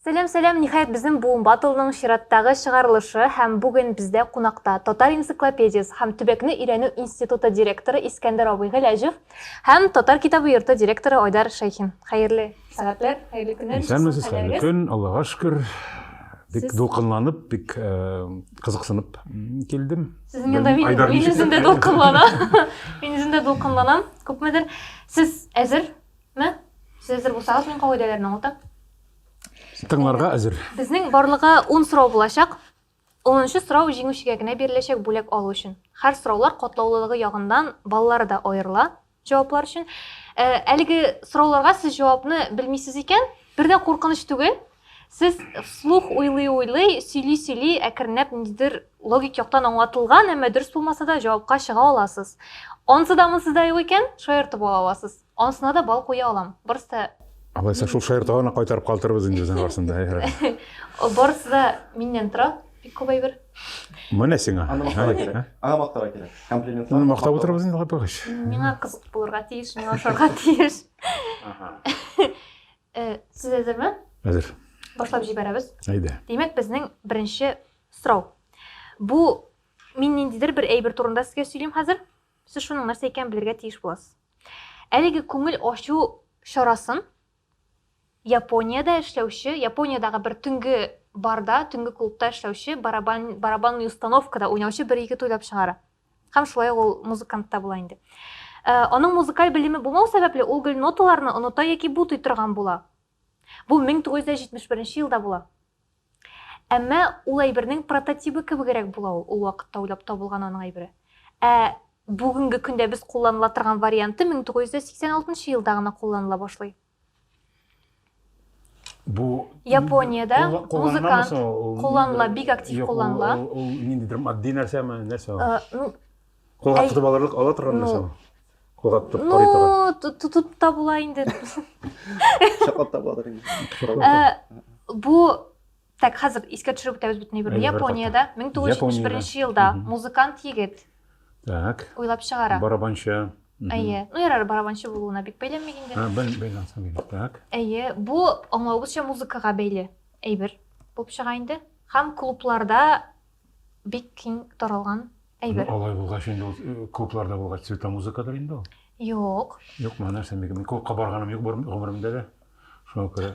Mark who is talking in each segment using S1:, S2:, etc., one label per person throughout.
S1: Сәлам, сәлам, ниһаять безнең буын батылның чираттагы чыгарылышы һәм бүген бездә кунакта Татар энциклопедиясе һәм төбәкне өйрәнү институты директоры Искәндәр абый Гәләҗев һәм Татар китабы йорты директоры Айдар Шәйхин. Хәерле сәгатьләр, хәерле көннәр. Исәнмесез, хәерле көн,
S2: Аллага шөкер. Бик дулкынланып, бик кызыксынып килдем. Сезнең янда мин,
S1: мин үзем дә дулкынланам. Мин үзем дә дулкынланам, күпмедер. Сез әзер, Ме? Сез әзер булсагыз, мин кагыйдәләрне аңлатам.
S2: Тыңларга әзер. Безнең барлыгы
S1: 10 сорау булачак. 10нчы сорау җиңүчегә генә биреләчәк бүләк алу өчен. Хәр сораулар катлаулылыгы ягыннан баллары да аерыла җаваплар өчен. Ә, әлеге сорауларга сез җавапны белмисез икән, бер дә куркыныч түгел. Сез вслух уйлый-уйлый, сөйли-сөйли, әкренләп ниндидер логик яктан аңлатылган, әмма дөрес булмаса да җавапка чыга аласыз. Ансы да монсы да юк икән, шаяртып ала аласыз. Анысына да бал куя алам. Барысы да Алайса шул шаяртуга
S2: гына кайтарып калтырбыз инде безнең арасында.
S1: Барысы да миннән тора, бик күп әйбер. Менә сиңа. Аны
S2: мактарга кирәк. Аны мактарга
S3: кирәк. Комплимент. Аны мактап утырабыз инде
S2: капыгыч. Миңа кызык булырга
S1: тиеш, миңа ошарга тиеш. Ага. Э, сез әзерме? Әзер. Башлап
S2: җибәрәбез.
S1: Әйдә. Димәк, безнең беренче сорау. Бу мин ниндидер бер әйбер турында сезгә сөйлим хәзер. Сез шуның нәрсә икәнен белергә тиеш буласыз. Әлеге күңел ачу чарасын Япониядә эшләүче, Япониядәге бер төнге барда, төнге клубта эшләүче, барабан, барабанный установкада уйнаучы бер егет уйлап чыгара. Һәм шулай ук ул музыкант та була инде. Э, аның музыкаль белеме булмау сәбәпле, ул гел ноталарны оныта яки бутый торган була. Бу 1971 нче елда була. Әмма ул әйбернең прототибы кебегрәк була ул, ул вакытта уйлап табылган аның әйбере. Ә бүгенге көндә без кулланыла торган варианты 1986 нчы елда гына кулланыла башлый. Бу Япониядә музыкант кулланыла, бик актив кулланыла. Ул ниндидер
S2: матди нәрсәме, нәрсә ул? Э, ну, Кулга Әй... тотып алырлык ала торган нәрсә ну... Кулга тотып карый торган. Ну, тотып та була инде.
S1: Чаклап
S3: та буладыр инде. Бу
S1: Так, хәзер искә төшереп үтәбез бөтен әйберне. Япониядә 1971 елда музыкант егет Так.
S2: Уйлап чыгара.
S1: Барабанчы.
S2: Әйе. Ну, ярар,
S1: барабанчы булуына бик бәйләнми инде. А, бәл бәйләнсә бит. Так.
S2: Әйе, бу
S1: аңлавыбызча музыкага бәйле әйбер булып чыга инде. Һәм клубларда бик киң таралган әйбер. Ну, алай булгач инде ул
S2: э, клубларда булгач цветомузыкадыр инде ул. Юк.
S1: Юкмы, нәрсә микән?
S2: Мин клубка барганым юк бер- гомеремдә дә. Шуңа күрә.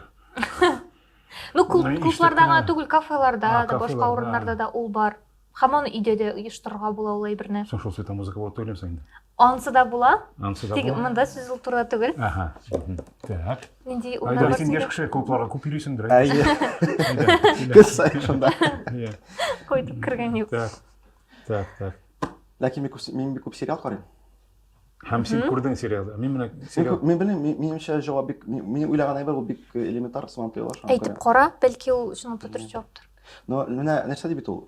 S1: Ну, клуб, Ну, клубларда гына иштән- түгел, кафеларда А, да, башка кафеларда. урыннарда да ул бар. Һәм аны өйдә дә оештырырга була ул әйберне. Соң шул цветомузыка булып түгелме
S2: соң инде? Ансы да була.
S1: Ансы да Тик монда
S2: сүз ул
S1: турыда
S2: түгел.
S1: Ага. Так.
S2: Нинди уйлар
S1: бар? Син яшь кеше
S2: клубларга
S1: күп
S2: йөрисеңдер. Әйе.
S3: Кыз сайын шунда. Иә. Кайтып
S1: кергән юк. Так. Так, так.
S2: Ләкин мин
S3: күп мин бик күп сериал карыйм. Һәм
S2: син күрдең сериалда. Мин менә сериал. Мин белмим, минемчә
S3: җавап бик мин уйлаган әйбер ул бик э, элементар сыман тоела шуңа. Әйтеп кара, бәлки
S1: ул шуның төтер җаваптыр. Но менә
S3: нәрсә дип бит ул?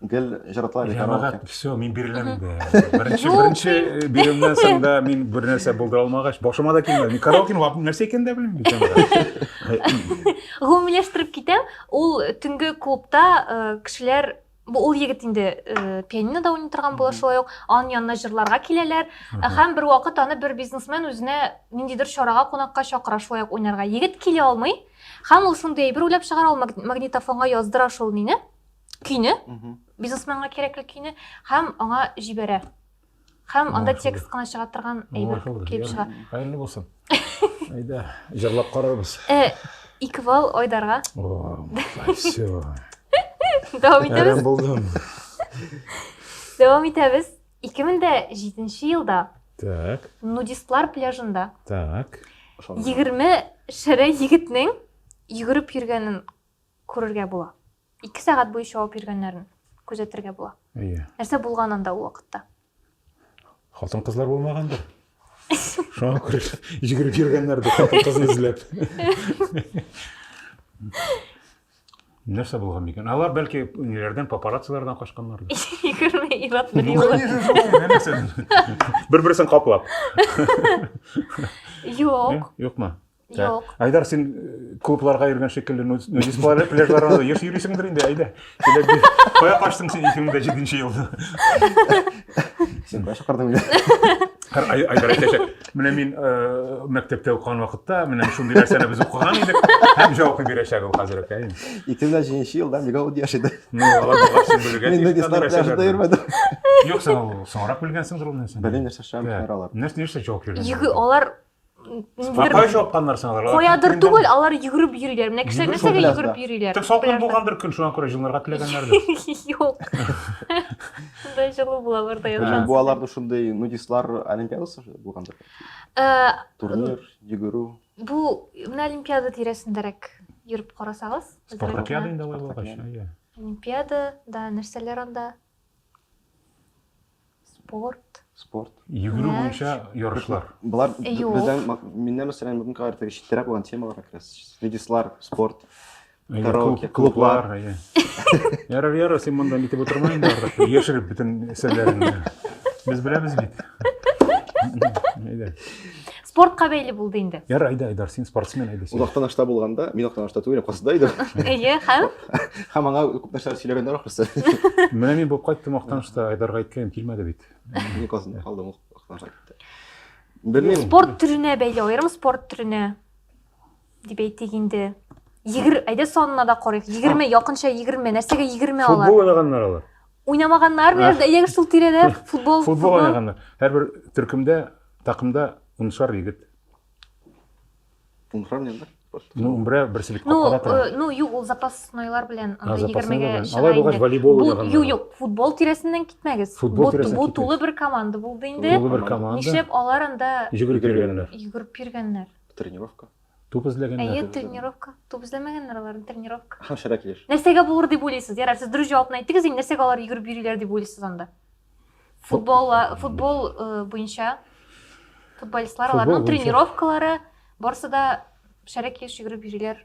S3: Гел җырлаталар бит караоке. Җәмәгать, все, мин
S2: биреләм инде. Беренче, Юк, беренче э, биремнән соң да мин бер нәрсә булдыра алмагач, башыма да килмәде. Мин караокены вап- нәрсә икәнен дә белмим. җәмәгать. Гомумиләштереп
S1: китәм, ул төнге клубта э, кешеләр бу ул егет инде э, пианинода уйный торган була Мгм. шулай ук анын янына җырларга киләләр Ә һәм бер вакыт аны бер бизнесмен үзенә ниндидер чарага кунакка чакыра шулай ук уйнарга егет килә алмый һәм ул шундый әйбер уйлап чыгара ул маг- магнитофонга яздыра шул мени көйне бизнесменга кирәкле көйне һәм аңа җибәрә һәм анда текст кына чыга торган әйбер килеп чыга хәерле булсын
S2: әйдә җырлап карарбыз э, ике балл
S1: айдарга все дәвам итәбез булдым дәвам итәбез ике мең дә жетенче елда так
S2: нудистлар
S1: пляжында так
S2: егерме
S1: шәрә егетнең йөгереп йөргәнен күрергә була Ике сәгать буе чабып йөргәннәрен күзәтергә була. Әйе. Нәрсә булган
S2: анда ул
S1: вакытта?
S2: Хатын-кызлар булмагандыр. Шуңа күрә йөгереп йөргәннәрдер хатын-кызны эзләп. Нәрсә булган микән? Алар бәлки ниләрдән папараццилардан качканнардыр. Егерме ир-ат
S1: бер Ну, юлы. конечно, шулай, менә нәрсә.
S2: Бер-берсен каплап.
S1: Юк. Юкмы? Юк.
S2: Айдар,
S1: син э,
S2: клубларга йөргән шикелле нудист пляжларда еш йөрисеңдер инде, әйдә. Кая качтың син 2007 елда?
S3: Син кая чакырдың мине? Айдар
S2: әйтәчәк, менә мин э, мәктәптә укыган вакытта, менә шундый нәрсәне без укыган идек, һәм җавапны бирәчәк ул хәзер үк, әйе. 2007 елда
S3: бик авыр яшь иде. Ну, алар булган син
S2: белгән. Мин нудистлар пляжда
S3: йөрмәдем. Юк, сен ул
S2: соңрак белгәнсеңдер ул нәрсәне. Белмим нәрсә шәм алар.
S3: Нәрсә нәрсә җавап биргән? Юк,
S2: алар
S1: Сапай
S2: чапканнар син аларга. Каядыр түгел, алар
S1: йөгереп йөриләр. Менә кешеләр нәрсәгә йөгереп йөриләр? Тик салкын булгандыр көн,
S2: шуңа күрә җылынырга теләгәннәрдер. Юк.
S1: Шундай җылы була аларда язган. Бу аларда шундый
S3: нудистлар олимпиадасы булгандыр. Э, Турнир, йөгерү. Бу менә
S1: олимпиада тирәсендәрәк йөреп карасагыз. Спартакиада инде алай
S2: булгач. Олимпиада,
S1: да, нәрсәләр анда? Спорт. Спорт. Йөгерү Мәш. буенча
S2: ярышлар. Болар б- Юк.
S3: бездән ма-
S1: миннән
S3: мәсәлән бүгенге карар теге читтәрәк булган темаларга керә. Свидислар, спорт. Әйе, Караоке, клуб- клублар. клублар, әйе.
S2: Ярар, ярар, син монда нитеп утырма инде артык. Яшереп бөтен серләреңне. Без беләбез бит. Әйдә.
S1: спортка бәйле булды инде яр айда айдар син спортсмен
S2: айда син озактан ашта булганда
S3: мин озактан ашта түгел касыда идем әйе һәм
S1: һәм аңа күп
S3: нәрсәләр сөйләгәннәр ахрысы менә мин булып
S2: кайттым озактан ашта айдарга әйткәнем килмәде бит мин касында калдым
S3: озактан ашта белмим спорт төренә
S1: бәйле аерым спорт төренә Дип әйтик инде. Егер, әйдә санына да карыйк. Егерме, якынча егерме. Нәрсәгә егерме алар? Футбол уйнаганнар алар.
S2: Уйнамаганнар, менә
S1: әйдәгез шул тирәдә футбол. Футбол уйнаганнар.
S2: Һәрбер төркемдә, такымда уншар егет.
S3: Уншар нинди? Ну, бер
S2: берсилек ну, капкада тора. Э, ну, юк, ул запаснойлар
S1: белән анда 20-гә чыга. Алар булгач
S2: волейбол
S1: уйнаганнар.
S2: Юк, юк, футбол тирәсеннән
S1: китмәгез. Футбол тирәсеннән Бу тулы
S2: бер команда
S1: булды инде. Тулы бер команда. Нишләп
S2: алар анда
S1: йөгереп йөргәннәр?
S2: Йөгереп йөргәннәр.
S1: Тренировка.
S3: Туп эзләгәннәр.
S2: Әйе, тренировка.
S1: Туп эзләмәгәннәр алар, тренировка. Һәм шәрә килеш. Нәрсәгә
S3: булыр дип уйлыйсыз?
S1: Ярар, сез дөрес җавапны әйттегез, инде нәрсәгә алар йөгереп йөриләр дип уйлыйсыз анда? Футбол, футбол э, буенча футболистлар, аларның тренировкалары, барысы да шәрә килеш йөгереп йөриләр.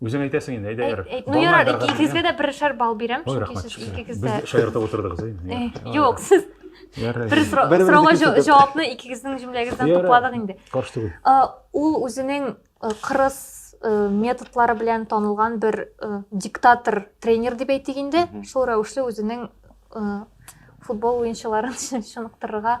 S3: Үзең
S2: әйтәсең инде, әйдә ярар. Ну ярар, икегезгә
S1: дә берешәр балл бирәм, чөнки сез икегез дә. Без
S2: шаяртып
S1: утырдыгыз
S2: инде. Юк, сез
S1: бер
S2: сорауга
S3: җавапны
S1: икегезнең җөмләгездән тупладык инде.
S2: Каршы түгел. Ул үзенең
S1: кырыс методлары белән танылган бер диктатор тренер дип әйтик инде. Шул рәвешле үзенең футбол уенчыларын чыныктырырга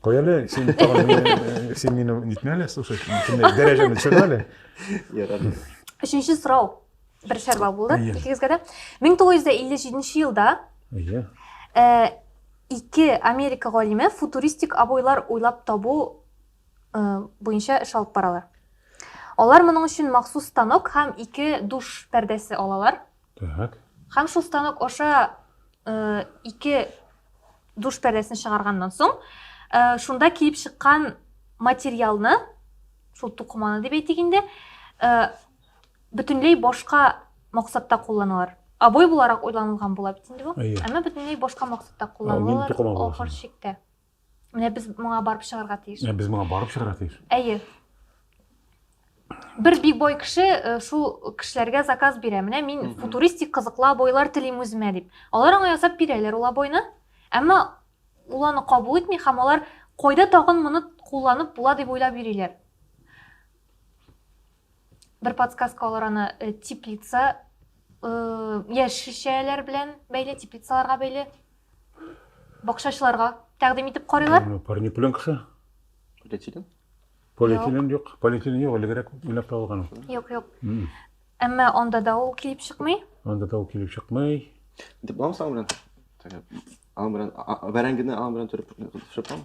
S1: Кой әле,
S2: син тагын син мине нитмә әле, слушай, дәрәҗәне төшер әле. Ярады.
S3: Өченче
S1: сорау бер шәрбал булды икегезгә дә. 1957 елда Иә.
S2: Э,
S1: ике Америка галиме футуристик абойлар уйлап табу э, буенча эш алып баралар. Алар моның өчен махсус станок һәм ике душ пәрдәсе алалар. Так.
S2: Һәм шул станок
S1: аша ике душ пәрдәсен чыгарганнан соң, шунда килеп чыккан материалны, шул тукыманы дип әйтик инде, бөтенләй башка максатта кулланалар. Обой буларак уйланылган була бит инде бу. Әмма бөтенләй башка максатта кулланалар
S2: ахыр
S1: чиктә. Менә без моңа барып чыгарга тиеш. Ә без моңа барып чыгарга тиеш.
S2: Әйе.
S1: Бер биг бой кеше э, шул кешеләргә заказ бирә. Менә мин футуристик кызыклы обойлар телим үземә дип. Алар аңа ясап бирәләр ул обойны. Әмма ул аны кабул итми һәм алар кайда тагын моны кулланып була дип уйлап йөриләр. Бер подсказка алар аны э, теплица э, яшелчәләр белән бәйле, теплицаларга бәйле бакчачыларга тәкъдим итеп карыйлар. Ну, Парнипленка ше.
S2: Полиэтилен? Полиэтилен юк. Полиэтилен юк, элегрәк уйлап табылган. ул.
S1: Юк,
S2: юк. М. Әмма
S1: анда да ул килеп чыкмый. Анда да ул килеп
S2: чыкмый. Дип буламы соң аның
S3: белән? Теге, Аның белән а- а- бәрәңгене аның белән төреп пешереп буламы?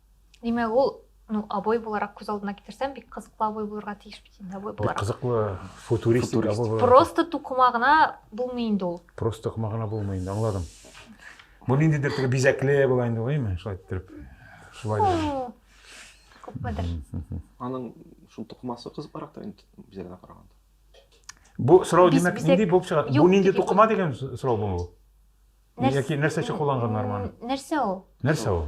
S2: Димәк,
S1: ул ну, обой буларак күз алдына китерсәм, бик кызыклы обой булырга тиеш бит инде обой буларак. Бик кызыклы футуристик
S2: обой буларак. Просто
S1: тукыма гына булмый инде ул. Просто тукыма гына булмый
S2: инде, аңладым. Бу ниндидер теге бизәкле була инде, гыйме? Шулай иттереп. Шулай да.
S1: Күпмедер. Аның
S3: шул тукымасы кызыклырак та инде бизәгенә караганда. Бу
S2: сорау димәк нинди булып чыга? Бу нинди тукыма дигән сорау бу? Яки нәрсә өчен кулланган норманы? Нәрсә ул?
S1: Нәрсә ул?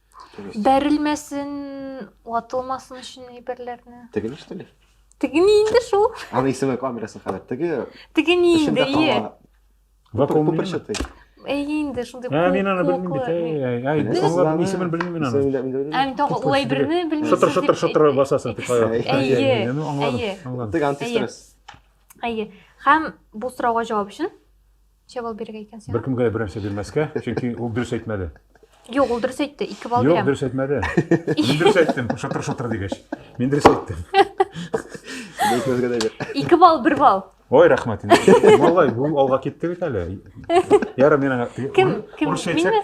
S3: бәрелмәсен
S1: ватылмасын өчен әйберләрне теге ништәли
S3: теге ни инде
S1: шул аны исеме камерасы
S3: хәбәр теге теге ни
S1: инде ие
S2: күперчатый
S3: әйе инде
S1: шундый ә мин аны белмим бит әй
S2: әй аңлап исемен белмим аны ә мин тагы ул әйберне
S1: белмим шытыр шытыр шытыр басасың дип
S2: әйе әйе аңладым
S1: аңладым теге
S3: антистресс әйе
S1: һәм бу сорауга җавап өчен Ничә балл бирергә икән сиңа? Беркемгә дә бернәрсә бирмәскә,
S2: чөнки ул дөрес әйтмәде. Юк, ул дөрес
S1: әйтте, ике балл бирәм. Юк, дөрес әйтмәде.
S2: Мин дөрес әйттем, шатыр-шатыр дигәч. Мин дөрес әйттем. Беркемгә дә бир.
S1: Ике балл, бер балл. Ой, рәхмәт.
S2: Малай, бу алга китте бит әле. Ярар, мин аңа... Кем? Кем? Минме?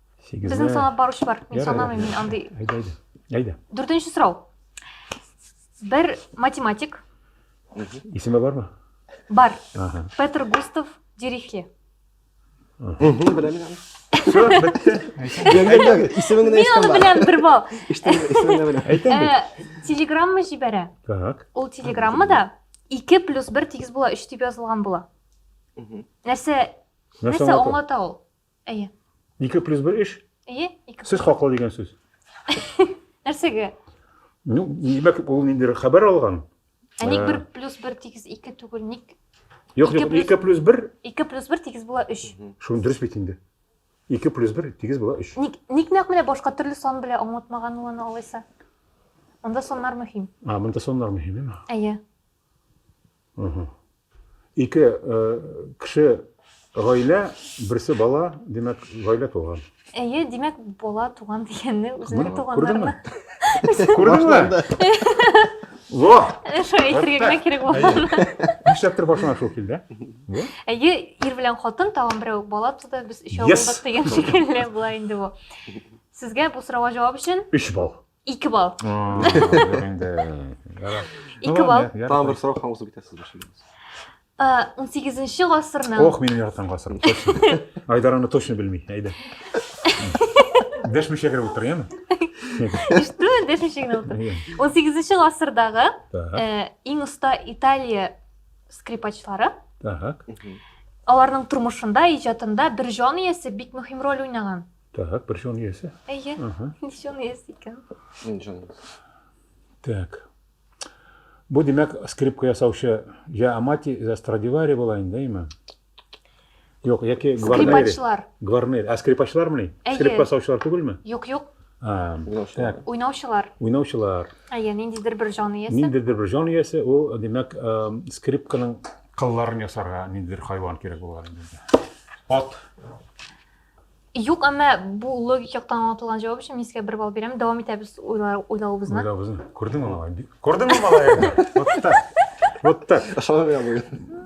S3: Сигезләр.
S1: Безнең санап баручы бар. Мин санамыйм, мин андый. Әйдә, әйдә. Әйдә.
S2: Дүртенче сорау.
S1: Бер математик.
S2: Исеме бармы? Бар.
S1: Ага. Петр Густав Дирихли.
S3: Беләм.
S2: Все, бетте.
S3: Исемен генә Мин аны беләм,
S1: бер бал. Исемен генә беләм.
S3: Әйтәм бит. Э,
S2: телеграмма җибәрә.
S1: Так. Ул
S2: телеграммада
S1: 2 плюс 1 тигез була, 3 дип язылган була. Нәрсә нәрсә аңлата ул? Әйе. Ике плюс бер
S2: эш? Әйе, ике. Сез
S1: хаклы дигән сүз. Нәрсәгә?
S2: Ну, димәк, ул инде хәбәр алган. Ә ник бер
S1: плюс бер тигез ике түгел, ник? Юк, юк, ике
S2: плюс бер. Ике плюс бер тигез була
S1: өч. Шуны дөрес бит инде.
S2: Ике плюс бер тигез була өч. Ник, ник нәкъ менә башка
S1: төрле сан белә аңлатмаган ул аны алайса? Монда саннар мөһим. А, монда саннар мөһим,
S2: әйме? Әйе.
S1: Угу.
S2: Ике кеше гаилә, берсе бала, димәк, гаилә туган. Әйе, димәк,
S1: бала туган дигәнне үзенең туганнарына.
S2: Күрдеңме? Во! Шул әйтергә
S1: генә кирәк булган. Нишләптер башына
S2: шул килде. Әйе,
S1: ир белән хатын тагын берәү бала туды, без өчәү булдык дигән шикелле була инде бу. Сезгә бу сорауга җавап өчен 3 балл. Ике
S2: бал.
S1: Ике бал. Тагын бер сорау һәм узып
S3: китәсез башыгыз.
S1: 18-нче гасырның. Ох, минем яратам гасырым.
S2: Айдар аны точно белми. Әйдә. Дәшмичә кереп утыр, яме? Иштү,
S1: дәшмичә генә утыр. 18-нче гасырдагы иң оста Италия скрипачлары. Так. Аларның тормышында, иҗатында бер җан иясе бик мөһим роль уйнаган. Так, бер җан
S2: иясе. Әйе, ничә җан
S1: иясе
S3: икән?
S1: Мин
S2: җан.
S1: Так.
S2: Бу димәк скрипка ясаучы я Амати, я Страдивари була инде, әйме? Юк, яки Гварнери. Скрипачлар. Гварнери.
S1: А скрипачлармы?
S2: Скрипка ясаучылар түгелме? Юк, юк.
S1: Так.
S2: Уйнаучылар.
S1: Уйнаучылар.
S2: Әйе, ниндидер бер
S1: җан иясе. Ниндидер бер җан иясе,
S2: ул димәк скрипканың кылларын ясарга ниндидер хайван кирәк булган инде. Ат.
S1: Юк, әмма бу логик яктан аңлатылган җавап өчен мин сезгә бер балл бирәм. Дәвам итәбез уйлавыбызны. Уйлавыбызны. Күрдеңме
S2: малай? Күрдеңме малай? Вот так. Вот так. Ошамый я буен.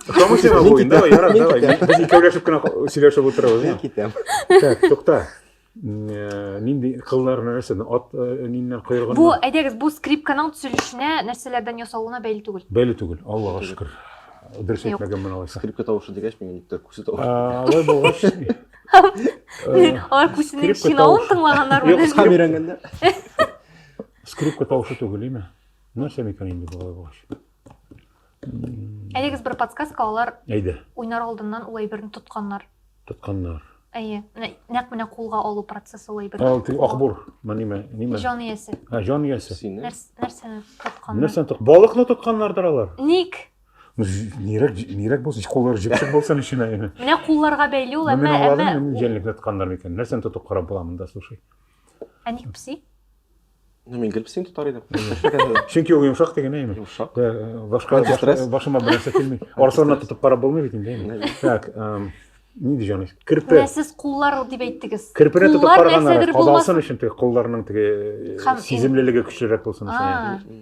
S3: Ошамый сиңа буен.
S2: Давай, ярар, давай. Без икәүләшеп кенә сөйләшеп утырабыз. Мин китәм.
S3: Так, тукта.
S2: Э, нинди кыллар нәрсәдән ат э, ниннән коелган бу әйдәгез бу
S1: скрипканың төзелешенә нәрсәләрдән ясалуына бәйле түгел бәйле түгел аллага
S2: шөкер Дөрес әйтмәгән мен алайса. Скрипка
S1: тавышы
S2: дигәч, миңа
S3: никтер күсе тавышы. Алай булгач.
S2: Алар
S1: күсенең чинавын тыңлаганнар
S2: Юк,
S1: кыска
S2: өйрәнгәндә. Скрипка тавышы түгел, име? Нәрсә микән инде болай булгач?
S1: Әлегез бер подсказка алар. Әйдә. Уйнар
S2: алдыннан ул
S1: әйберне тотканнар. Тотканнар. Әйе, менә нәкъ менә кулга алу процессы ул әйбер. Ул теге акбур, ниме,
S2: ниме? Җан иясе. Һә,
S1: җан иясе. Сине.
S2: Нәрсәне
S3: тотканнар?
S1: Нәрсәне тот? Балыкны
S2: тотканнардыр алар. Ник?
S1: Нирәк,
S2: нирәк булса, куллары җепсек булса ниченә инде. Менә кулларга бәйле
S1: ул, әмма әмма җәнлек тотканнар
S2: микән? Нәрсәне тотып карап була монда, слушай. Ә ник
S1: пси? Ну, мин
S3: грипсин тотар идем. Чөнки ул йомшак
S2: дигән әйме? Йомшак. Башка башыма берәрсә килми. Арсына тотып карап булмый бит инде әйме. Так, ни дигән кирпе. Менә сез куллар
S1: дип әйттегез. Кирпене тотып караганнар,
S2: кадалсын
S1: өчен
S2: теге
S1: кулларның теге
S2: сеземлелеге
S1: көчлерәк
S2: булсын өчен.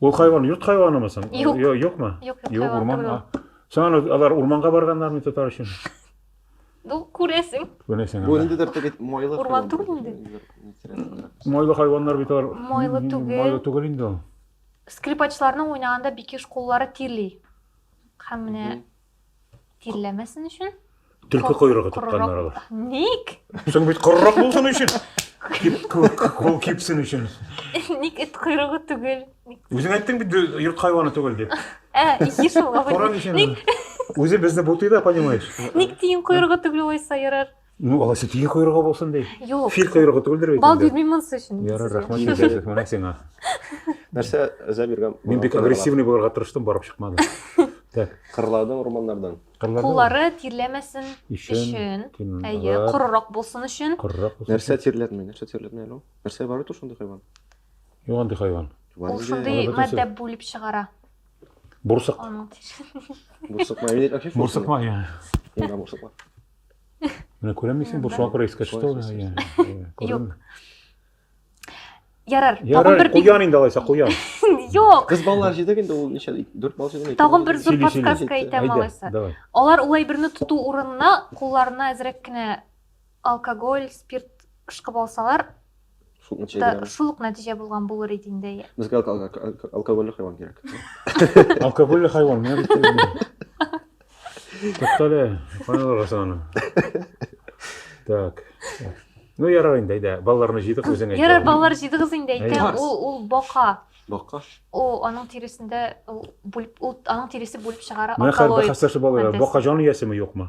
S3: Ул
S2: хайван йорт хайванымы соң? Юк. Йо- Юкмы? Юк,
S1: юк, Юк,
S2: хайван урман. түгел ул.
S1: а. Соң
S2: аны
S1: алар
S2: урманга барганнармы тотар өчен? Ну,
S1: күрәсең. Күрәсең. Бу аны. ниндидер
S2: теге
S3: майлы Урман хайван. түгел инде. Ниндидер
S1: интересный.
S2: Майлы хайваннар бит алар. Майлы М, түгел. Майлы
S1: түгел инде ул.
S2: Скрипачларның
S1: уйнаганда бикеш куллары тирли. Һәм менә Мгм. Тирләмәсен өчен? Төлке койрыгы
S2: тотканнар алар.
S1: Ник?
S2: Соң
S1: бит корырак
S2: булсын өчен. Кул кипсен өчен. Ник эт
S1: койрыгы түгел? Үзең әйттең бит
S2: йорт хайваны түгел дип. Ә, ие шул.
S1: Коран өчен. Ник?
S2: Үзе безне бутый да, понимаешь? Ник тиен койрыгы
S1: түгел уйса ярар? Ну, алайса тиен
S2: койрыгы булсын ди. Юк. Фил койрыгы түгелдер
S1: бит.
S2: Балдыз мин монсы өчен. Ярар,
S1: рәхмәт сезгә,
S2: менә сиңа. Нәрсә
S3: әзә биргән? Мин бик агрессивный
S2: булырга тырыштым, барып чыкмады. Так. Кырлады урманнардан.
S3: Куллары
S1: тирләмәсен өчен.
S2: Әйе,
S1: корырак булсын өчен. Корырак булсын. Нәрсә тирләтми?
S2: Нәрсә
S3: тирләтми әле? Нәрсә бар итү шундый хайван? Юк андый
S2: хайван. Ул шундый
S1: матдә бүлеп чыгара. Бурсык. Бурсык ма?
S3: Бурсык ма? Бурсык
S2: ма?
S3: Менә
S2: күрәм мисең, бу шуңа күрә искә төште ул.
S1: Юк. Ярар, тагын бер куян инде алайса,
S2: куян. Юк. Кыз
S1: балалар җидек инде
S3: ул ничә? 4 бал җидек. Тагын бер зур подсказка
S1: әйтәм
S2: алайса.
S1: Алар ул әйберне
S2: тоту
S1: урынына кулларына әзрәк кенә алкоголь, спирт ышкып алсалар, Шул нәтиҗә
S3: Да, бирәме? шул ук нәтиҗә
S1: булган булыр иде инде. әйе. Безгә алко- алко- алко-
S3: алкогольле хайван кирәк. Алкогольле
S2: хайван, менә бит ул. Туктале, каян аласың аны? Так. Ну, ярар инде, әйдә, балаларны җыйдык үзең әйт. Ярар, балалар җыйдыгыз
S1: инде әйтәм. Әйе. Ул ул бака. Бакка. Ул
S3: аның
S1: тиресендә ул бүлеп ул аның тиресе бүлеп чыгара Менә хәл алкалоид. бәхәсләшеп алалар.
S2: Фантастика. Бака
S1: җан
S2: иясеме, юкмы?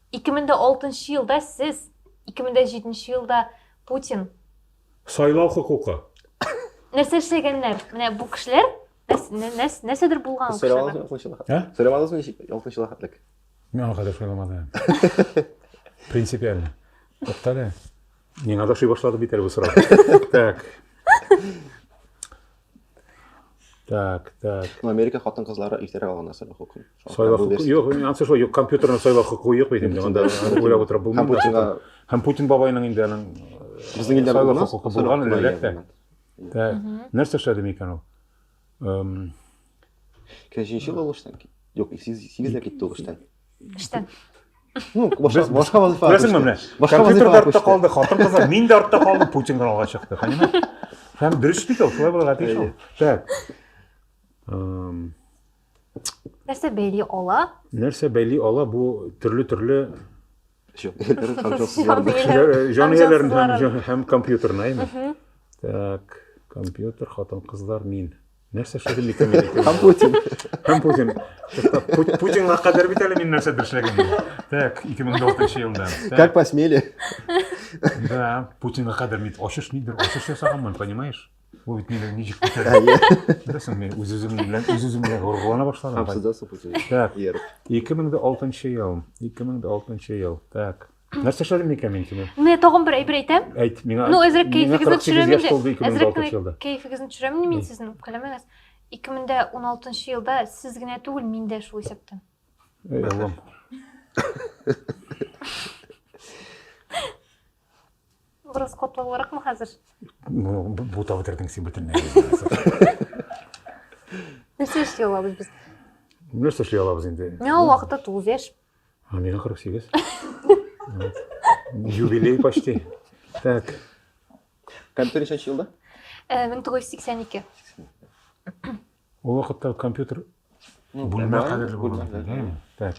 S1: 2006 нчы елда сез, 2007 нчы елда Путин. Сайлау
S2: хокукы. Нәрсә
S1: эшләгәннәр? Менә бу кешеләр нәрсәдер булган кешеләр. Сөйләмәдегез мени
S3: 6 елга хәтлек? Мин аңа хәтлек
S2: сөйләмәдем. Принципиально. Туктале. Миңа да шуй башлады бит әле бу сорау. Так. Так, так. Ну, Америка
S3: хатын кызлары иртәрәк алган нәрсә бу хокук. Сайлау хокук.
S2: Юк, ансы шулай, юк, компьютерны сайлау хокук юк бит инде. Анда уйлап утырып булмый. Путинга һәм Путин бабайның инде аның безнең илдә сайлау
S3: хокукы булган
S2: әлбәттә. Так. Нәрсә эшләде микән ул? Эм
S3: Кәҗенче булыштан. Юк, 8 дә китте ул эштән.
S1: Эштән.
S3: Ну, башка башка вазифа. Күрәсеңме менә? Башка
S2: вазифа артта калды, хатын-кызлар, мин дә артта калдым, Путин гына алга чыкты, понимаешь? Һәм дөрес бит ул, шулай булырга тиеш ул. Так.
S1: Нәрсә бәйли ала? Нәрсә бәйли ала
S2: бу төрле-төрле
S3: Җанөяләр һәм җансызлар. Җанөяләр һәм
S2: һәм компьютер найме? Так, компьютер, хатын-кызлар, мин. Нәрсә шөгыль микән? Һәм Путин. Һәм Путин. Путинга кадәр бит әле мин нәрсә дөршләгән. Так, 2006 елда. Как посмели?
S3: Да,
S2: Путинга кадәр мин ачыш нидер, ачыш ясаганмын, понимаешь? Бу бит мине ничек күтәрде? Беләсең, мин үз-үзем белән үз-үзем белән горгылана башладым. Һәм сездә супу сөйли. Так. Ияреп. 2006 ел. 2006 ел. Так. Нәрсә эшләдем микән мин сине? Менә тагын бер әйбер әйтәм.
S1: Әйт, миңа. Ну, әзрәк
S2: кәефегезне
S1: төшерәм инде. Әзрәк кәефегезне
S2: төшерәм инде мин
S1: сезнең үпкәләмәгез. 2016 елда сез генә түгел, мин дә шул исәптән. Эй, Аллам. Бераз катлаулыракмы хәзер?
S2: Бутап бетердең син бөтенләй.
S1: Нәрсә эшли алабыз без? Нәрсә эшли
S2: алабыз инде? Мин ул вакытта 9 яшь.
S1: А миңа 48.
S2: Юбилей почти. Так.
S3: Компьютер ничәнче елда?
S1: 1982.
S2: Ул вакытта компьютер Ну, бүлмә нормально, кадәрле булган бүлмә, икән, да. әйе. Так.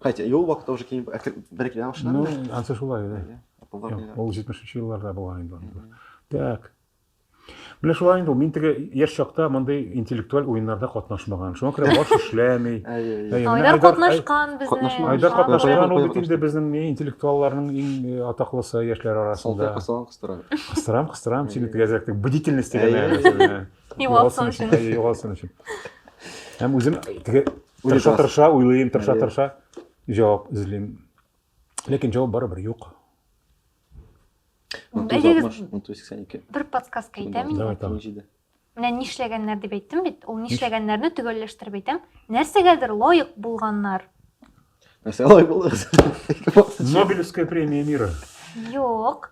S3: Хотя, и ул вакытта уже киң бер килә Ну, башлады. ансы шулай,
S2: да. Әйе, Apple-да Юк, килә. Ул 70-нче елларда булган инде анда. Так. Менә шулай инде ул. Мин теге яшь чакта мондый интеллектуаль уеннарда катнашмаган. Шуңа күрә баш эшләми. Әйе, Әйе, әйе. менә Айдар Айдар-
S1: катнашкан безнең. катнашмаган. Айдар Ага. катнашмаган ул бит
S2: Катнашты. инде безнең ни, интеллектуалларның иң э, атаклысы яшьләр Салтай арасында. касалан кыстыра. Кыстырам, кыстырам, сине Әйе. тегәзәктек. Бдительность дигән Әйе. нәрсә. Югалсын
S1: өчен. Әйе, югалсын өчен.
S2: Һәм үзем теге тырша тырша уйлыйм, тырша тырша җавап эзлим. Ләкин җавап барыбер юк. Әйдәгез.
S1: 182. Бер подсказка әйтәм инде. Менә нишләгәннәр дип әйттем бит. Ул нишләгәннәрне төгәлләштереп әйтәм. Нәрсәгәдер лаек булганнар. Нәрсә
S3: лаек булдыгыз?
S2: Нобелевская премия мира. Юк.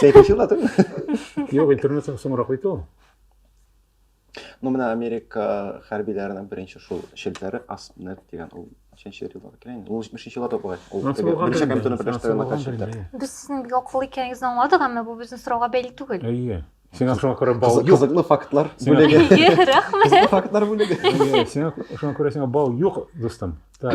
S1: Сәйт
S3: ачу ла түгел. Юк, интернет
S2: соңрак бит ул.
S3: Ну, менә Америка хәрбиләренең беренче шул челтәре Аснет дигән ул ничәнче елларда икән инде? Ул 70 елларда бугай. Ул беренче компьютерны берләштерә накат челтәр. Без сезнең бик акыллы
S1: икәнегезне аңладык, әмма бу безнең сорауга бәйле түгел. Әйе. Сиңа шуңа
S2: күрә бал юк. Кызыклы фактлар бүлеге.
S3: Рәхмәт.
S1: Фактлар
S3: бүлеге. Сиңа
S2: шуңа күрә сиңа бал юк, дустым. Так.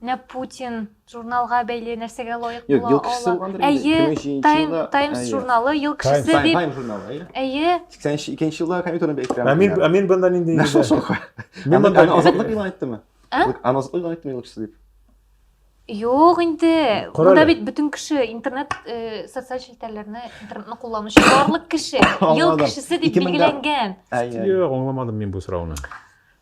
S1: Менә Путин журналга бәйле нәрсәгә лаек Юк, була ел кешесе ала. булгандыр инде,
S3: Әйе,
S1: 23
S3: Time-
S1: елда, Times
S3: әйе. журналы ел Time,
S1: кешесе Time, дип. Time журналы, әйе.
S3: Әйе,
S1: 82 елда
S3: компьютерны бәйттем. Ә мин, ә мин бында нинди Нәрсә
S2: егет? шока?
S3: Мин Аны монда- аны
S2: азатлык игълан
S3: иттеме? А? Юк, Аны азатлык игълан
S1: иттеме юкса
S3: дип? юк
S1: инде. Кара Монда әле. бит бөтен кеше
S2: интернет,
S1: э, социаль челтәрләрне, интернетны кулланучы барлык кеше ел Аңладым. кешесе дип 2000 дә-
S3: билгеләнгән. Әйе. әйе.
S1: Юк, аңламадым
S3: мин бу
S2: сорауны.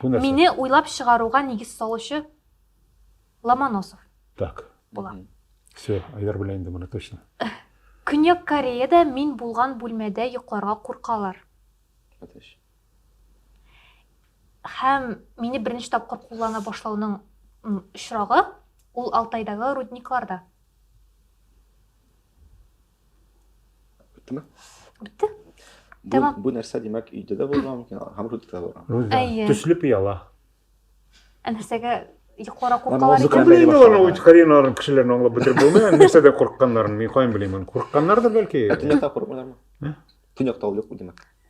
S3: Бу нәрсә?
S2: Мине уйлап чыгаруга
S1: нигез салучы Ломоносов. Так.
S2: Була. Все, Айдар белә инде моны точно. Көньяк
S1: Кореяда мин булган бүлмәдә йокларга куркалар.
S3: Әтәш.
S1: Һәм мине беренче тапкыр куллана башлауның очрагы ул Алтайдагы рудникларда.
S3: Беттеме? Бетте.
S1: Бу, Тәмам. бу нәрсә димәк
S3: өйдә дә булырга мөмкин, һәм Рудикта да булырга. Руза, Әйе. төсле
S2: пыяла. Ә
S1: нәрсәгә йокларга Ана куркалар музыка икән? белән- Белмим
S3: аларны башлама.
S1: үз карьераларын
S2: кешеләрне аңлап бетереп булмый. Ә Нәрсәдә курыкканнарын мин каян белим аны? Курыкканнардыр бәлки. Ә төньякта курыкмыйлармы?
S3: Төньякта ул юк бу димәк.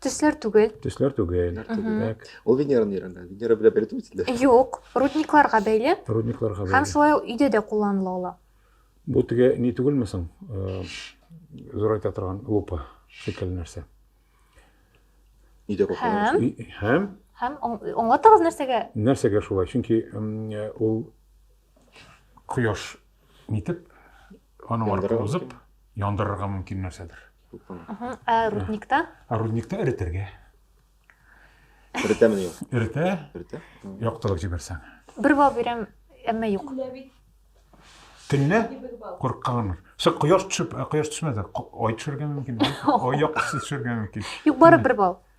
S1: Төсләр түгел. Төсләр түгел.
S2: Димәк, Ул Венера нирәндә?
S3: Венера белән бәйле түгел инде. Юк, рудникларга
S1: бәйле рудникларга һәм бәйле. шулай
S2: ук өйдә дә кулланыла
S1: ала. Бу теге
S2: ни түгелме соң? Э, Зурайта торган лупа шикелле нәрсә. Өйдә
S3: кулланыла.
S1: Һәм? И- Һәм Һәм
S2: аң-
S1: аңлатыгыз нәрсәгә? нәрсәгә шулай? Чөнки
S2: м, э, ул кояш нитеп, аның Яндырырга аркылы узып, яндырырга мөмкин нәрсәдер. Ә
S1: рудникта? Ә рудникта эретергә.
S3: Эретәме юк? Эретә. Эретә. Яктырып җибәрсәң.
S2: Бер бал бирәм,
S1: әмма юк.
S2: Төнлә курыкканмын. Сез кояш төшеп, кояш төшмәде. Ай төшергә мөмкин. Ай яктысы төшергә мөмкин. Юк, бары бер бал.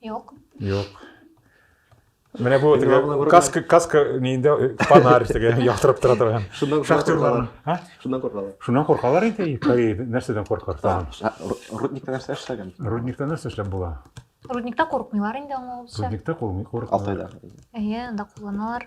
S2: Юк.
S1: Юк.
S2: Менә бу теге каска каска нидә э, фонарь теге яктырып тора торган. Шуннан шахтерлар. Ха? Шуннан коркалар.
S3: Шуннан коркалар инде.
S2: Кай нәрсәдән коркар тагын? Рудникта нәрсә
S3: эшләгән? Рудникта нәрсә эшләп була?
S2: Рудникта коркмыйлар
S1: инде аңлавымча. Рудникта коркмый.
S2: Алтайда.
S3: Әйе, анда
S1: кулланалар.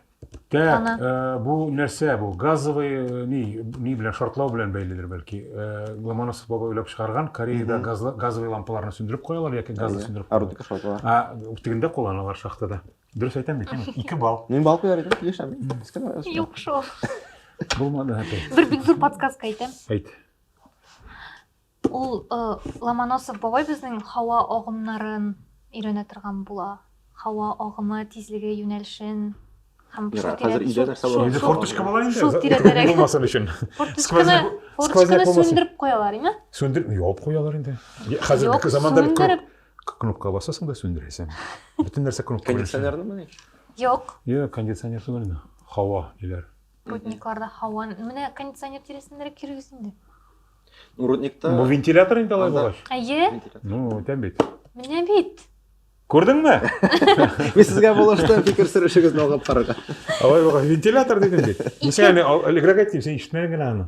S1: Так, Ана. э,
S2: бу нәрсә бу? Газовый э, ни, ни белән шартлау белән бәйледер бәлки. Э, Ломоносов бабай уйлап чыгарган, Кореяда Мгм. газлы- газовый лампаларны сүндереп куялар яки газны Әйе. сүндереп куялар. Арутика шартлар.
S3: А, тегендә кулланалар
S2: шахтада. Дөрес әйтәм бит, әнә, ике балл. Мин бал куяр идем,
S1: яшәм. Искән раз.
S2: Юк шул. Булмады әпәй. Бер бик зур подсказка
S1: әйтәм. Әйт.
S2: Ул
S1: Ломоносов бабай безнең һава агымнарын өйрәнә торган була. Һава агымы, тизлеге, юнәлешен һәм
S3: шул тирәдә. Инде форточка була инде. Шул
S2: тирәдә. Булмасын өчен. Форточканы,
S1: форточканы сүндереп куялар, име? Сүндереп, ябып куялар
S2: инде. Хәзерге заманда бит кнопка басасың да сүндерәсең. Бөтен нәрсә кнопка белән. Кондиционернымы ни?
S3: Юк. Юк,
S1: кондиционер
S2: түгел инде. Һава диләр. Рудникларда
S1: һава, менә кондиционер тирәсенә дә кирегез инде. Ну,
S3: рудникта... Бу вентилятор
S2: инде алай булгач. Әйе. Ну,
S1: тәм бит.
S2: Менә бит.
S1: Күрдеңме?
S3: Мин сезгә булышты, фикер сөрешегезне алып карарга. Алай булгач,
S2: вентилятор дидем бит. Мин сиңа элегрәк әйтим, син ишетмәдең генә аны.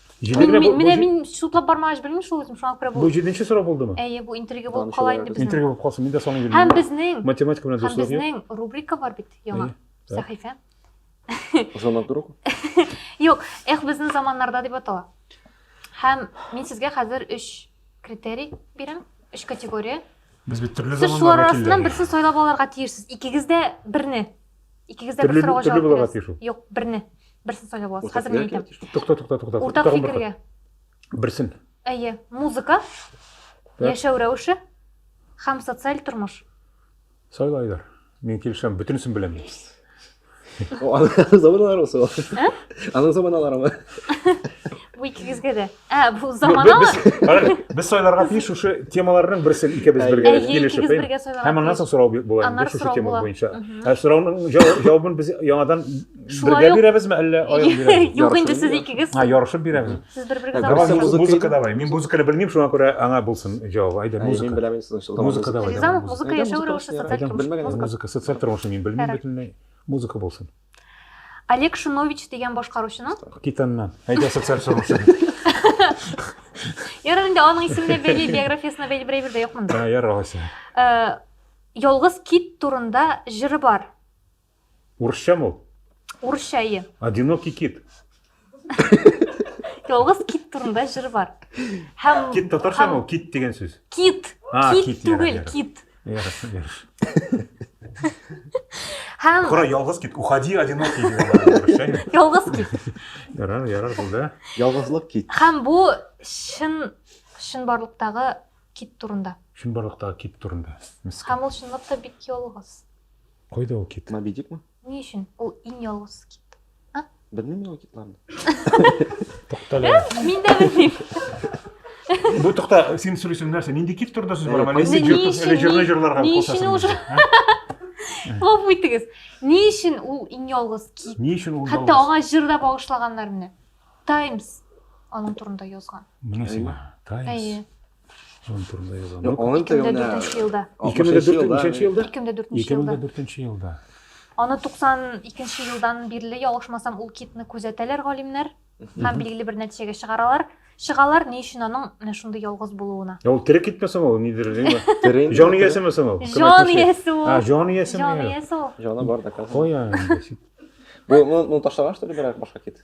S1: Җидегенә бу- бу Менә җи- мин судлап бармагач белмим шул үзем, шуңа күрә бу. Бу җиденче сорау булдымы? Әйе,
S2: бу интрига булып Данышып
S1: кала инде алырбыз. безнең. Интрига булып калсын, мин дә саный йөрим.
S2: Һәм безнең, Математика
S1: белән
S2: һәм дуслык
S1: юк. безнең рубрика
S2: бар бит
S1: яңа, Әйе, так. сәхифә.
S3: Ышанып тору. Юк,
S1: эх, безнең заманнарда дип атала. Һәм мин сезгә хәзер өч критерий бирәм, өч категория. Без бит төрле Сез
S2: шулар заманнар арасыннан вәкилләре.
S1: берсен сайлап
S2: алырга
S1: тиешсез. Икегез дә берне Икегездә бер сорауга җавап бирәсез. Юк, берне. Берсен сайлап аласыз. Хәзер
S2: мин
S1: әйтәм. Тукта, тукта, тукта. Уртак
S2: фикергә.
S1: Берсен.
S2: Әйе,
S1: музыка,
S2: яшәү рәвеше
S1: һәм социаль тормыш. Сайла,
S2: Айдар. Мин килешәм, бөтенесен беләм. Аның
S3: заманалары ул. Аның заманалары.
S1: Бу икегезгә дә. Ә, бу заманалы. Без сайларга тиеш
S2: шушы темаларның берсен икебез бергә килешеп,
S1: һәм
S2: аннан соң
S1: сорау була
S2: инде шушы тема буенча.
S1: Ә
S2: сорауның җавабын без яңадан бергә
S1: бирәбезме, әллә аерым
S2: бирәбезме? Юк, инде сез икегез.
S1: Һа, ярышып бирәбез. Сез
S2: бер-бергә
S1: заманалы. Музыка
S3: давай. Мин
S1: музыканы
S3: белмим,
S2: шуңа күрә аңа булсын җавабы. Әйдә, музыка. Мин беләм инде соң.
S3: Музыка
S2: давай.
S3: Ризамов музыка
S2: яшәү
S1: рәвеше социаль
S2: тормыш.
S1: Музыка
S2: социаль тормышны мин белмим
S1: бөтенләй.
S2: Музыка булсын. Олег
S1: Шинович дигән башкаручының. Китәннән. Әйдә
S2: социаль соручы.
S1: Ярар инде аның исеменә бәйле, биографиясенә бәйле берәй бер дә юк монда. Ярар алайса. Э, Ялгыз кит турында җыры бар. Урысча
S2: мул? Урысча, ие.
S1: Одинокий кит. Ялгыз кит турында җыр бар. Һәм Кит татарча һәм- ул кит
S2: дигән сүз. Кит. А,
S1: Кит кит, түгел, ярар, ярар. кит. Ярыш, ярыш. Һәм Кора ялгыз кит,
S2: уходи одинокий дигән бар, ярыш, әйе? ялгыз кит.
S1: Ярар, ярар
S2: булды. Ялгызлык кит.
S3: Һәм бу
S1: чын чынбарлыктагы кит турында. Чынбарлыктагы кит
S2: турында. Мискин. Һәм ул чынлыкта
S1: бик ялгыз. Кайда ул
S2: кит? Мабидикмы? Ни өчен
S3: ул
S1: иң ялгыз кит? А? Белмим мин ул
S3: китларны.
S2: Туктале. Мин дә
S1: белмим.
S2: Бу тукта, син сөйлисең нәрсә? Нинди кит турында сүз бара? Мәлесе җыртып, әле җырны җырларга
S1: кушасың.
S2: Куып үйтегез.
S1: Ни өчен ул иң ялгыз кит? Ни өчен ул? Хәтта аңа
S2: җыр да
S1: багышлаганнар менә. Times аның турында язган. Менә сиңа.
S2: Times. Әйе.
S1: Аның турында
S2: язам. Юк, аның турында
S1: 2004 елда. 2004 елда. 2004
S2: елда. 2004 елда.
S1: Аны 92 елдан бирле ялгышмасам ул китны күзәтәләр галимнәр һәм билгеле бер нәтиҗәгә чыгаралар. Чыгалар ни өчен аның менә шундый ялгыз булуына. Ә ул тере китмә соң ул
S2: нидер диме? Тере. Җан иясеме
S3: соң ул?
S2: Җан иясе ул. А,
S1: җан иясеме? Җан иясе ул.
S2: Җаны
S1: бар да казан. Кая?
S2: Бу
S3: ну ташлаган что ли бирәк башка кит?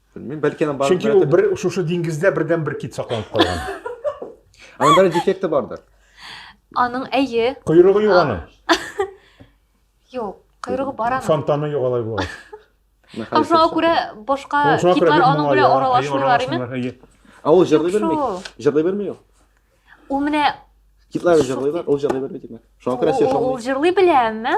S3: Белмим, бәлки аның бардыр. Чөнки ул бер шушы
S2: диңгездә бердән бер кит сакланып калган. Аның
S3: бер дефекты бардыр. Аның
S1: әйе. Койрыгы юк аның. Юк, койрыгы бар аның. Фонтаны юк алай булгач.
S2: Һәм шуңа
S1: күрә башка китлар аның белән аралашмыйлар име? Ә ул җырлый
S3: белми. Җырлый белми ул. Ул менә
S1: Китлар җырлыйлар,
S3: ул җырлый белми димәк. Шуңа күрә сер шуңа. Ул җырлый белә, әмма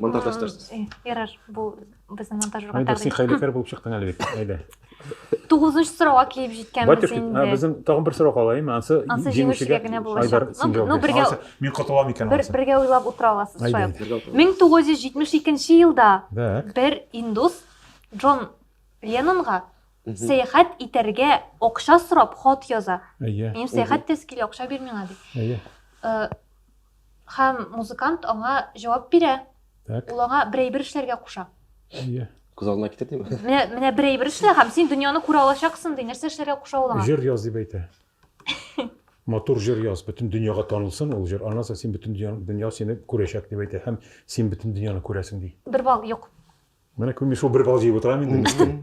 S3: Монтажда эшләрсез. Ярар,
S1: бу безнең монтажерга Айдар, син хәйләкәр булып
S2: чыктың әле бит. Әйдә. Тугызынчы
S1: сорауга килеп җиткәнбез инде. Безнең
S2: тагын бер
S1: сорау калаймы?
S2: Ансы җиңүчегә генә
S1: булачак. Ну, бергә
S2: мин
S1: котылам
S2: икән. Бергә уйлап утыра
S1: аласыз шулай. 1972 елда бер
S2: индус
S1: Джон Леннонга сәяхәт итәргә акча сорап хат яза. Минем сәяхәт тез килә, акча бир миңа ди. Һәм музыкант аңа җавап бирә. Так. Ул аңа бер әйбер
S2: эшләргә
S1: куша. Әйе. Күз
S2: алдына китер
S3: диме? Менә, менә бер әйбер эшлә
S1: һәм син дөньяны күрә алачаксың, ди. Нәрсә эшләргә куша ул аңа? Җыр яз дип әйтә.
S2: Матур җыр яз, бөтен дөньяга танылсын ул җыр. Аннан соң син бөтен дөнья, дөнья сине күрәчәк дип әйтә һәм син бөтен дөньяны күрәсең, ди. Бер бал юк.
S1: Менә күрми шул
S2: бер бал җыеп утырам инде мескин.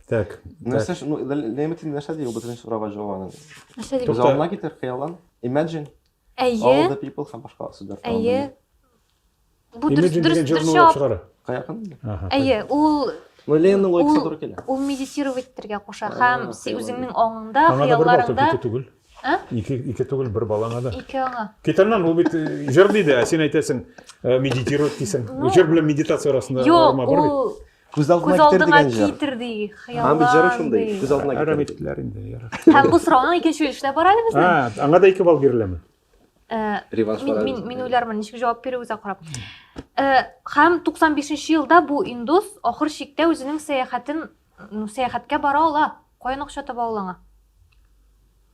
S2: Так. Нәрсә, ну,
S3: Ләймәтин нәрсә ди ул бөтен сорауга җавабы? Нәрсә ди? Күз алдына
S1: китер, хыяллан.
S3: Imagine. Әйе. All
S1: the
S3: people
S1: һәм башка сүзләр. Әйе. Бу дөрес дөрес
S2: дөрес җавап. Каякын?
S3: Әйе, ул
S1: Мөленнең логикасы
S3: туры килә. Ул медитировать
S1: итәргә куша һәм үзеңнең аңыңда, хыялларыңда. Ике
S2: түгел. А? Ике ике
S1: түгел, бер
S2: балаңа да. Ике аңа. Китәрнән
S1: ул бит
S2: җыр диде, ә син әйтәсең, медитировать дисең. Җыр белән медитация арасында арма бар бит. Күз алдына Күз
S1: китер алдыңа дигән
S3: җыр. китер ди, Һәм бит җыры
S1: хыяллан шундый.
S3: ди. Күз алдына Әрәм китер. иттеләр инде.
S2: ярар.
S3: Һәм
S2: бу сорауны икенче
S1: өлешләп бара әле безнең. А, аңа да ике балл биреләме?
S2: Э, Реванш
S3: Мин, барабыз. мин, мин уйлармын, ничек җавап
S1: бирү үзә карап. Э, Һәм 95 елда бу индус ахыр чиктә үзенең сәяхәтен, ну, сәяхәткә бара ала. Каян акча таба ул аңа?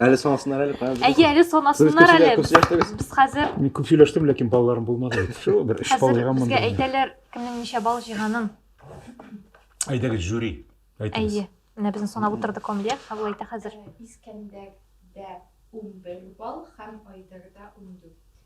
S2: Әле
S3: санасыннар әле, каян Әйе, әле санасыннар
S1: әле. Без хәзер
S3: Мин күп
S1: сөйләштем, ләкин
S2: балаларым булмады. Шул бер эш бал җыйганмын. Безгә әйтәләр, кемнең
S1: ничә бал җыйганын.
S2: Әйдәгез, жюри. Әйтегез. Әйе. Менә безне санап
S1: утырды Камилия, кабул әйтә хәзер. Искәндәрдә
S4: 11 бал һәм Айдарда 14.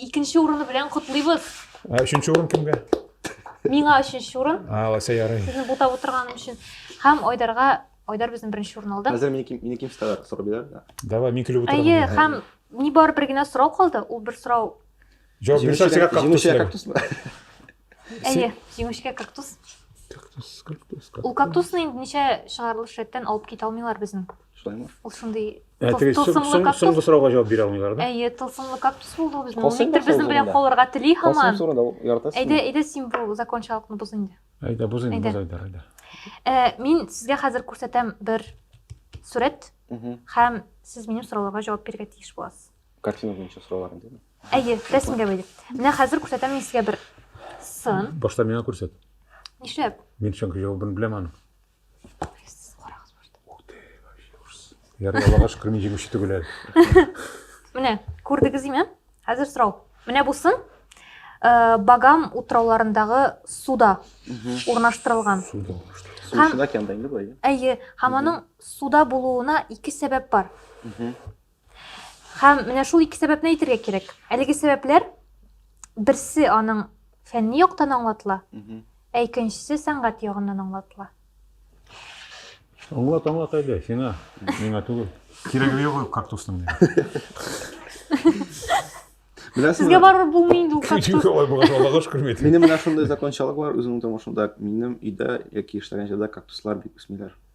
S1: Икенче урыны белән котлыйбыз. Ә өченче урын
S2: кемгә? Миңа
S1: өченче урын. А, алайса ярый. Сезне
S2: бутап утырганым өчен.
S1: Һәм Айдарга Айдар безнең беренче урын алды. Хәзер минеки минеки читалар
S3: сорап бирәр да. Давай, мин көлеп утырам.
S2: Әйе, һәм нибары
S1: бер генә сорау калды. Ул бер сорау. Җавап бирсәк,
S2: сиңа кактус. Җимешә кактусмы?
S1: Әйе, җимешкә кактус. Кактус, кактус.
S2: Ул кактусны
S1: инде ничә чыгарылыш рәттән алып китә алмыйлар безнең. Шулаймы? Ул шундый ә, тылсымлы
S2: кактус. Соңгы сорауга
S1: җавап бирә алмыйлар
S2: да? Әйе, тылсымлы кактус
S1: булды ул безнең. Никтер безнең белән калырга тели һаман. Әйдә,
S3: әйдә син бу
S1: закончалыкны боз инде. Әйдә, боз инде, боз
S2: әйдә, әйдә. Э, мин сезгә хәзер
S1: күрсәтәм бер сурәт һәм сез минем сорауларга җавап бирергә тиеш буласыз. Картина буенча сораулар
S3: инде. Әйе, рәсемгә
S1: бәйле. Менә хәзер күрсәтәм мин сезгә бер сын. Башта миңа күрсәт.
S2: Нишләп?
S1: Мин чөнки җавабын
S2: беләм аның. Сез
S1: карагыз башта. Ух ты, вообще ужас.
S2: Ярый, Аллага шөкер, мин җиңүче түгел әле. Менә,
S1: күрдегез име? Хәзер сорау. Менә бу сын э, Багам утрауларындагы суда урнаштырылган. Суда урнаштырылган. Су Һәм-
S3: эчендә океанда инде былай. Әйе, һәм аның
S1: суда булуына ике сәбәп бар. Һәм менә шул ике сәбәпне әйтергә кирәк. Әлеге сәбәпләр берсе аның фәнни яктан аңлатыла, ә икенчесе сәнгать ягыннан аңлатыла. Аңлат,
S2: аңлат әле, сиңа, миңа түгел. Кирәге юк ул кактусның.
S1: Сезгә барып булмый инде ул кактус. Алай булган Аллага шөкер
S2: бит. Минем менә шундый закончалык
S3: бар, үземнең тормышымда минем өйдә яки эшләгән җирдә кактуслар бик үсмиләр.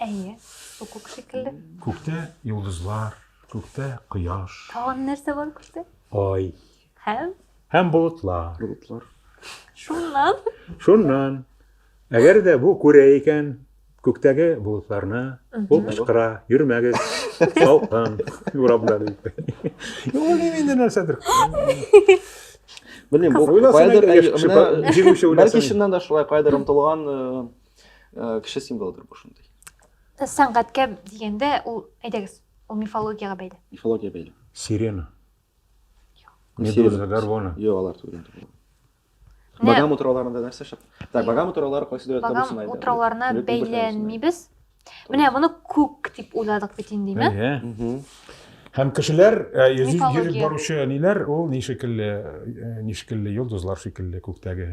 S2: Әйе, бу
S1: күк шикелле. Күктә йолдызлар,
S2: күктә
S1: кояш. Тагын
S2: нәрсә бар күктә?
S1: Ай. Һәм? Һәм болытлар.
S2: Болытлар.
S3: Шуннан?
S1: Шуннан. Әгәр дә
S2: бу күрә икән, күктәге болытларны, ул кычкыра, йөрмәгез, салкын, урамда дип. Ул инде нәрсәдер.
S3: Белмим, бу кайдыр, бәлки чыннан да шулай кайдыр омтылган Э, кеше символыдыр бу шундый э, сәнгатькә
S1: дигәндә ул әйдәгез ул мифологияга бәйле мифология бәйле
S3: сирена
S2: медуза горгона юк алар түгел
S3: багам утрауларында нәрсә шып так багам утраулары кайсы дәүләттә булсын багам утрауларына
S1: бәйләнмибез менә моны күк дип уйладык бит инде ме һәм
S2: кешеләр э, йөреп баручы
S1: ниләр ул
S2: ни шикелле ни шикелле йолдызлар шикелле күктәге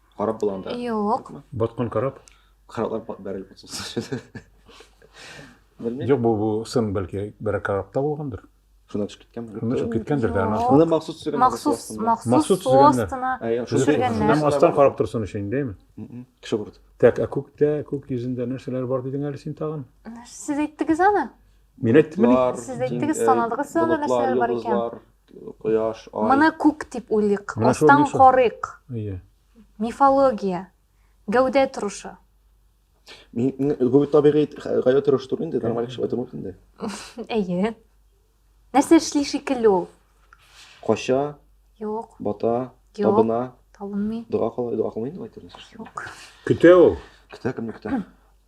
S3: Карап була анда? Юк. Баткан
S1: карап?
S2: Караплар бәрелеп
S3: катсынсы. Белмим. Юк, бу бу
S2: сын бәлки бер карапта булгандыр. Шунда төшеп киткәнме?
S3: Шунда төшеп киткәндер дә. Аны махсус
S2: төшергән. Махсус,
S3: махсус
S2: состына. Шуннан
S1: астан
S3: карап торсын
S2: өчен, дәйме? Кеше күрде.
S3: Так, ә күктә,
S2: күк йөзендә нәрсәләр бар дидең әле син тагын? Сез әйттегез
S1: аны? Мин әйттем. Сез
S2: әйттегез,
S1: санадыгыз аны нәрсәләр бар икән? Кояш,
S3: ай. Моны күк дип уйлыйк,
S1: астан карыйк.
S2: Мифология,
S1: гәүдә торышы.
S3: Гүбит табигый гәүдә торышы түгел инде, нормаль кеше байтыр мөмкин инде. Әйе.
S1: Нәрсә эшли шикелле ул? Кача.
S3: Юк.
S1: Бата. Юк.
S3: Табына.
S1: Табынмый.
S3: Дога
S1: кылмый, дога кылмый инде
S3: байтыр. Юк. Көтә
S1: ул.
S2: Көтә, кемне көтә?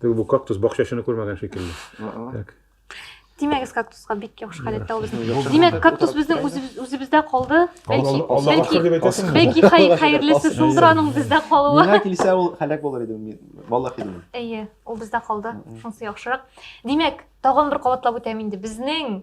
S2: Теге бу кактус бакчачыны күрмәгән шикелле. Так. Тимәгез
S1: кактуска бик яхшы халәттә ул безнең. Яхшы Димәк, булды. кактус безнең үзебез- үзебездә калды. Бәлки, Алла- Аллага бәлки, шөкер
S2: дип әйтәсеңме? бәлки хай- хәерлесе
S1: шулдыр аның бездә калуы. Миңа килсә ул һәлак
S3: булыр иде мин. Валлахи дим. Әйе, ул бездә
S1: калды. Мгм. Шунысы яхшырак. Димәк, тагын бер кабатлап үтәм инде. Безнең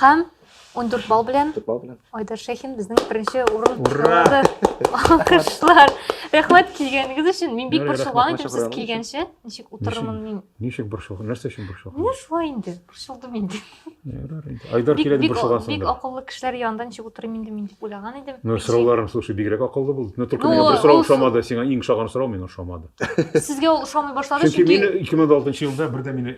S3: Һәм
S1: 14 балл белән Айдар Шәхин
S3: безнең
S1: беренче урын алды. Алкышлар. Рәхмәт килгәнегез өчен. Мин бик борчылган идем сез
S2: килгәнче.
S3: Ничек
S1: утырырмын мин? Ничек борчылган? Нәрсә
S2: өчен борчылган? Менә шулай инде.
S1: Борчылдым инде. Айдар
S2: килә дип борчылгансың. Бик акыллы кешеләр янында
S1: ничек утырыйм инде мин дип уйлаган идем. Ну, сорауларың, слушай,
S2: бигрәк акыллы булды. Но только миңа бер сорау ошамады. Сиңа иң ошаган
S1: сорау
S2: миңа ошамады. Сезгә ул
S1: ошамый башлады чөнки. Чөнки мин
S2: 2006 елда
S1: бердә
S2: мине